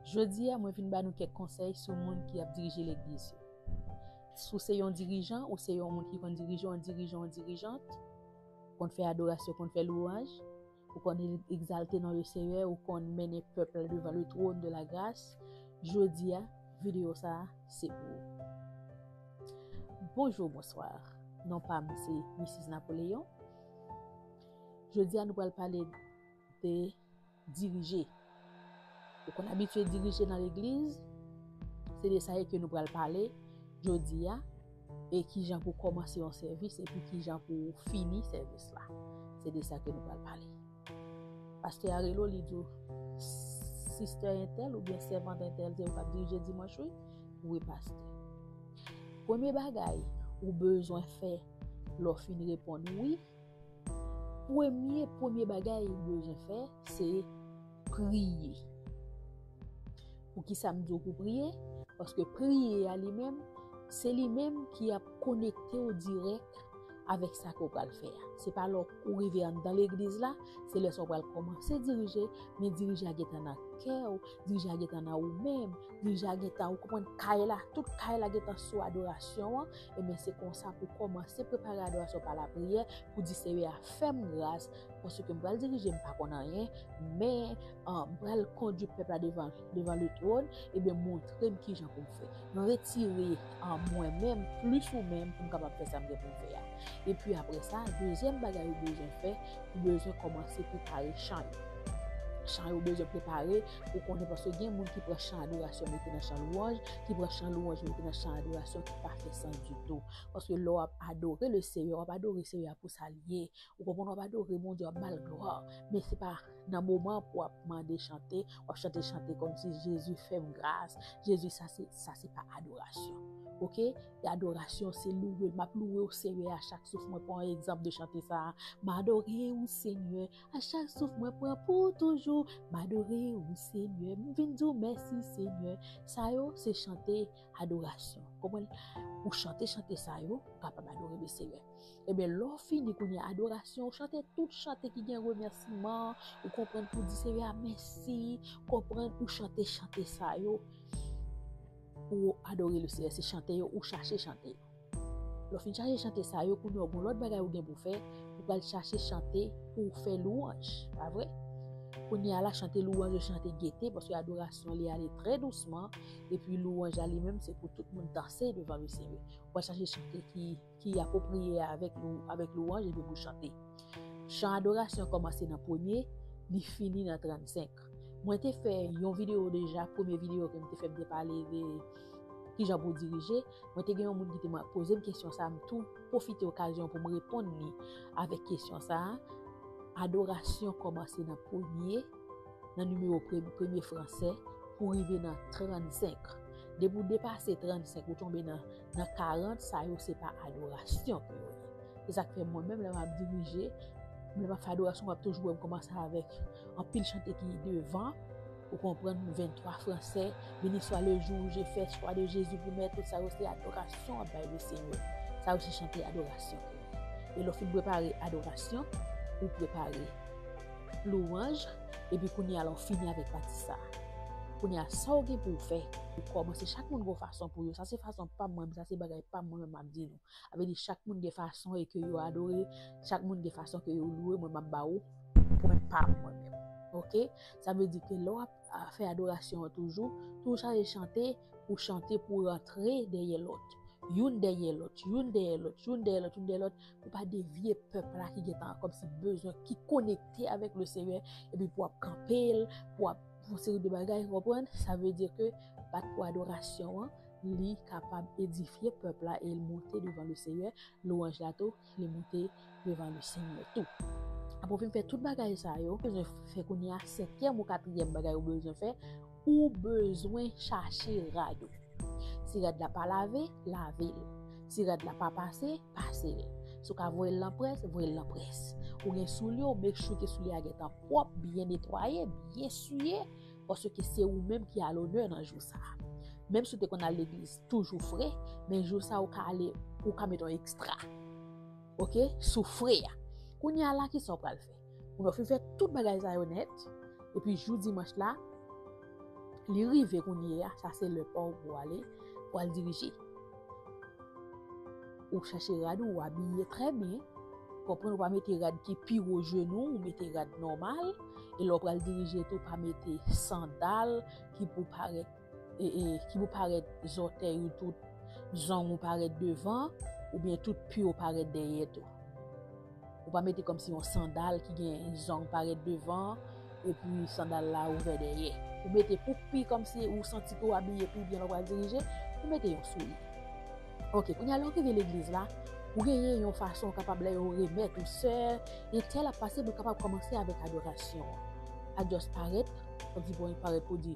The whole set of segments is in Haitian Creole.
Jodi a mwen vin ba nou kèk konsèy sou moun ki ap dirije legliz yo. Sou se yon dirijan ou se yon moun ki konn dirije yon dirijan yon dirijant, konn fè adorasyon, konn fè lwanj, ou konn egzalte non le Seyè, ou konn mennen pèp la devan le twòn de la gras, jodi a videyo sa a se pou ou. Bonjou, bonswa, non pa m se Missis Napoléon. Jodi a nou pral pale te dirije. Ou konn abitye dirije nan legliz, se de sa e ke nou pral pale jodi a, e ki jan pou kòmanse yon sèvis e pi ki jan pou fini sèvis la. Se de sa ke nou pral pale. Pastè a rele w li di w, Sistè entèl ou byen sèvant entèl se ou kap dirije dimanch wi? Wi pastè. Premye bagay ou bezwen fè lè w fin reponn wi, Premye premye bagay ou bezwen fè se priye. Poukisa m di w pou priye? Paske priye a li menm, se li menm ki ap konekte w dirèk avèk sa ke w pral fè a. Se pa lè ou rive anndan legliz la, se lè sa ou pral kòmanse dirije, men dirije a gentan nan kè w, dirije a gentan nan ou menm, dirije a gentan ou konprann kay la, tout kay la gentan sou adorasyon an, Ebyen se konsa pou kòmanse prepare adorasyon pa lapriyè pou di Seyè a fè m gras paske m pral dirije m pa konn anyen men m pral kondui pèp la devan devan letwòn ebyen montre m kijan pou m fè. Retire mwen menm plis ou menm pou m kapab fè sa m gen pou m fè a. Epi aprè sa, dezyèm bagay ou bezwen fè, ou bezwen kòmanse prepare chan yo. Chan yo bezwen prepare. Ou konnen paske gen moun ki pran chan adorasyon mete nan chan lwanj, ki pran chan lwanj mete nan chan adorasyon ki pa fè sans ditou. Paske lè w ap adore le Seyè, w ap adore Seyè a pou sa l ye. Ou konprann w ap adore Bondye, w ap ba l glwa. Men se pa nan moman pou w ap mande chante, w ap chante chante kòm si Jezi fè m gras, Jezi sa se, sa se pa adorasyon. Ok? E adorasyon se louwe l, m ap louwe w Seyè a chak souf mwen pran egzanp de chante sa a. M adore ou Senyè. A chak souf mwen pran pou ou toujou m adore ou senyè m vin di w mèsi senyè sa yo se chante adorasyon konprann ou chante chante sa yo ou kapab adore le senyè ebyen lè w fini kounye adorasyon ou chante tout chante ki gen remèsiman ou konprann pou di senyè a mèsi konprann ou chante chante sa yo pou adore le senyè se chante yo ou chache chante yo. Lè w fin chache chante sa yo, kounye a ou gen yon lòt bagay ou gen pou w fè, ou pral chache chante pou w fè lwanj, pa vre? Kounye a la, chante lwanj yo chante gete, paske adorasyon li ale trè dousman, epi lwanj la li menm se pou tout moun danse devan misye. Ou pral chache chante ki apwopriye avèk lwanj epi pou w chante. Chan adorasyon kòmanse nan premye, li fini nan 35. Mwen te fè yon video deja, premye video ke m te fè m te pale de kijan pou dirije. Mwen te gen yon moun ki te poze m kesyon sa, m tou pwofite okazyon pou m reponn li avèk kesyon sa. Adorasyon kòmanse nan premye, nan nimewo premye franse pou rive nan 35. Depi ou depase 35, ou tonbe nan. nan 40 sa yo se pa adorasyon pou yo ye. Se sak fè mwen menm lè m ap dirije, lè m ap fè adorasyon w ap toujou wè m kòmanse avèk anpil chante ki devan, ou konprann 23 fransè, beni swa le jou ou je fè swa de Jezi pou mè, tout sa yo se adorasyon w ap bay le Senyè. Sa yo se chante adorasyon pou yo. E lè w fin prepare adorasyon, ou prepare louwanj. Epi kounye a la ou fini avèk pati sa. Kounye a sa ou gen pou ou fè, ou kòmanse chak moun gon fason pou yo. Sa se fason pa m mwen menm, sa se bagay pa m mwen menm m ap di nou. A vle di chak moun gen fason e ke yo adore, chak moun gen fason ke yo loure mwen m ap ba ou pwen pa m mwen menm. Ok? Sa vle di ke lè w ap fè adorasyon an toujou, tou chaje chante, ou chante pou rantre dèyè lòt. Youn dèyè lòt, youn dèyè lòt, youn dèyè lòt, youn dèyè lòt. pou pa devye pèp la ki gentan kòm si bezwen ki konekte avèk le Senyè epi pou ap kanpel, pou ap pou se de bagay reprenn, sa vle di ke bat pou adorasyon an li kapab edifye pèp la e l monte devan le Senyè, lwanj la tou li monte devan le Senyè tou. Apre w fin fè tout bagay sa yo, bezwen fè kounye a, senkyèm ou katriyèm bagay ou bezwen fè, Ou bezwen chache rad ou. Si rad la pa lave, lave l. Si rad la pa pase, pase l. Si w ka voye l nan près, voye l nan près. Ou gen soulye, ou make sure ke soulye a gentan pwòp, byen netwaye, byen siye, paske se ou menm ki a lonè nan jou sa. Menm si w te konn al legliz toujou fre, men jou sa ou ka ale, ou ka met yon ekstra. Ok, sou fre a. Kounye a la, kisa w pral fè? Moun yo fin fè tout bagay sa yo nèt, epi jou dimanch la, li rive kounye ya, sa se lè pa w pou ale, pou al dirije. Ou chache rad ou, ou abiye trè byen, konprann ou pa mete rad ki pi wo jenou, ou mete rad nòmal, e lè w pral dirije tou, pa mete sandal ki pou parèt. e, e, ki pou parèt zòtèy ou tout zong ou parèt devan, oubyen tout pye ou parèt dèyè tou. Ou pa mete kòm si yon sandal ki gen zong parèt devan, epi sandal la ouvè dèyè. Ou mete pou pi kòm si ou santi pou abiye pi byen lò wap dirije, ou mete yon souli. Ok, kounye a lò ki gen legliz la, ou genyen yon fason ou kapab lè yo remèt ou sè, e tèl ap pase, ou kapab kòmanse avèk adorasyon. Adyòs parèt, kòm si pou yon parèt pou di.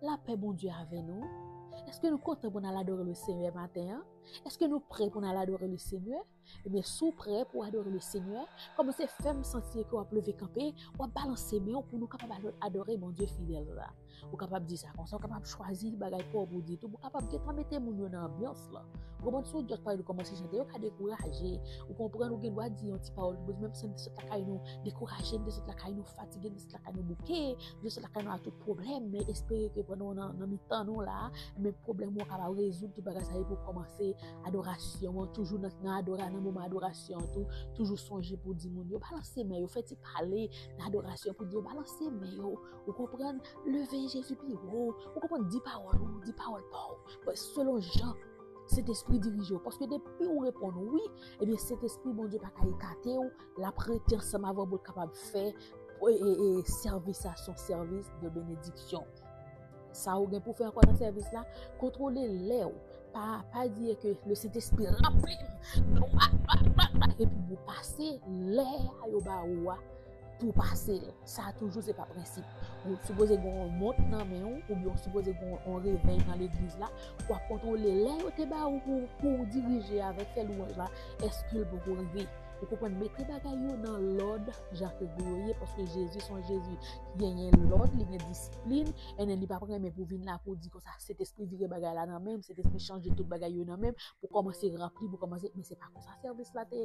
Lapè Bondye avè nou, eske nou kontan pou n al adore le Senyè maten an? Eske nou prè pou n al adore le Senyè? Ebyen si w prè pou w adore le Senyè, kòmanse fè m santi ke w ap leve kanpe, w ap balanse men w pou nou kapab adore Bondye fidèl la. Ou kapab di sa konsa, ou kapab chwazi bagay pa w pou w di tou, ou kapab gentan mete moun yo nan anbyans. Kris lan. Ou konprann si ou jòs pale nou kòmanse chante yo ka dekouraje, ou konprann ou gen dwa di yon ti pawòl pou Bondye menm si nou te sot lakay nou dekouraje, nou te sot lakay nou fatige, nou te sot lakay nou bouke, nou te sot lakay nou ak tout pwoblèm men espere ke pandan ou nan mitan nou la men pwoblèm ou kapab rezoud tout bagay sa epi ou kòmanse adorasyon an toujou nan adora nan moman adorasyon an tou toujou sonje pou di moun yo balanse men yo fè ti pale nan adorasyon pou di yo balanse men yo ou konprann leve Jezi pi wo ou konprann di pawòl ou di pawòl pa ou Fè selon jan Sentespri dirije ou. Paske depi ou reponn wi, ebyen Sentespri Bondye pa ka ekate ou, l ap rete ansanm avè ou pou l kapab fè sèvis la se yon sèvis de benediksyon. Sa ou gen pou fè ankò nan sèvis la, kontwole lè ou. Pa di ke le Sentespri ranpli m, epi pou pase lè a yo ba ou a, Pou pase l. Sa toujou se pa prensip. Ou sipoze gen yon mont nan men ou oubyen ou sipoze gen yon revèy nan legliz la. Ou ap kontwole lè yo te ba ou pou ou dirije avèk fè lwanj la èske l poko rive. Ou konprann? Mete bagay yo nan lòd jan ke pou yo ye paske Jezi se yon Jezi ki genyen lòd, li gen disiplin and li pap renmen pou vin la pou di konsa Sentespri vire bagay la nan men m, Sentespri chanje tout bagay yo nan men m pou kòmanse ranpli, pou kòmanse men se pa konsa sèvis la te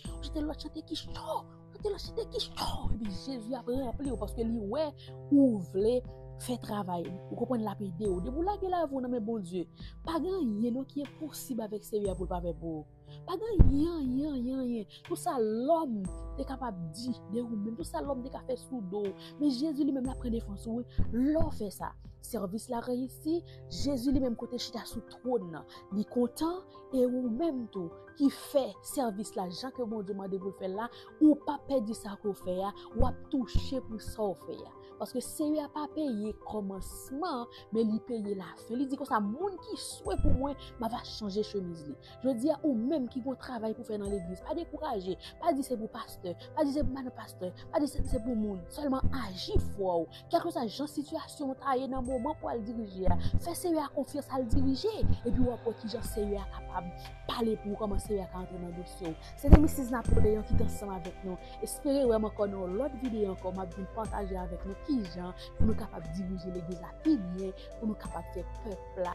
Sonje te lòt chante ki cho. Ou te lòt chante ki cho. Epi Jezi ap ranpli ou paske li wè ou vle fè travay li. Ou konprann l'ap ede ou. Depi ou lage lavi ou nan men Bondye, pa gen anyen non ki enposib avèk Seyè a pou l pa fè pou ou. Pa gen anyen, anyen, anyen, anyen. Tout sa lòm te kapab di de ou menm, tout sa lòm te ka fè sou do ou, men Jezi li menm l'ap pran defans ou wi. Lè w fè sa, sèvis la reyisi, Jezi li menm kote chita sou twòn nan, li kontan e ou menm tou ki fè sèvis la jan ke Bondye mande pou l fè l la, ou pa pèdi sa ke w fè a, w ap touche pou sa w fè a. Paske Seyè a pa peye kòmansman, men li peye lafen. Li di konsa, moun ki swe pou mwen, m ava chanje chemiz li. Jodi a, ou menm ki gen yon travay pou fè nan legliz, pa dekouraje, pa di se pou pastè, pa di se pou madan pastè, pa di se pou moun, sèlman aji fwa w. Kèlkeswa jan sitiyasyon w ta ye nan moman pou w al dirije a, fè Seyè a konfyans al dirije, epi w ap wè kijan Seyè a kapab pale pou ou, kòman Seyè a ka antre nan dosye w. Se te Misis Napoleon ki t ansanm avèk nou. Espere wè m ankò nan yon lòt videyo ankò, m ap vin pataje avèk nou kijan pou nou kapab dirije Legliz la pi byen, pou nou kapab fè pèp la.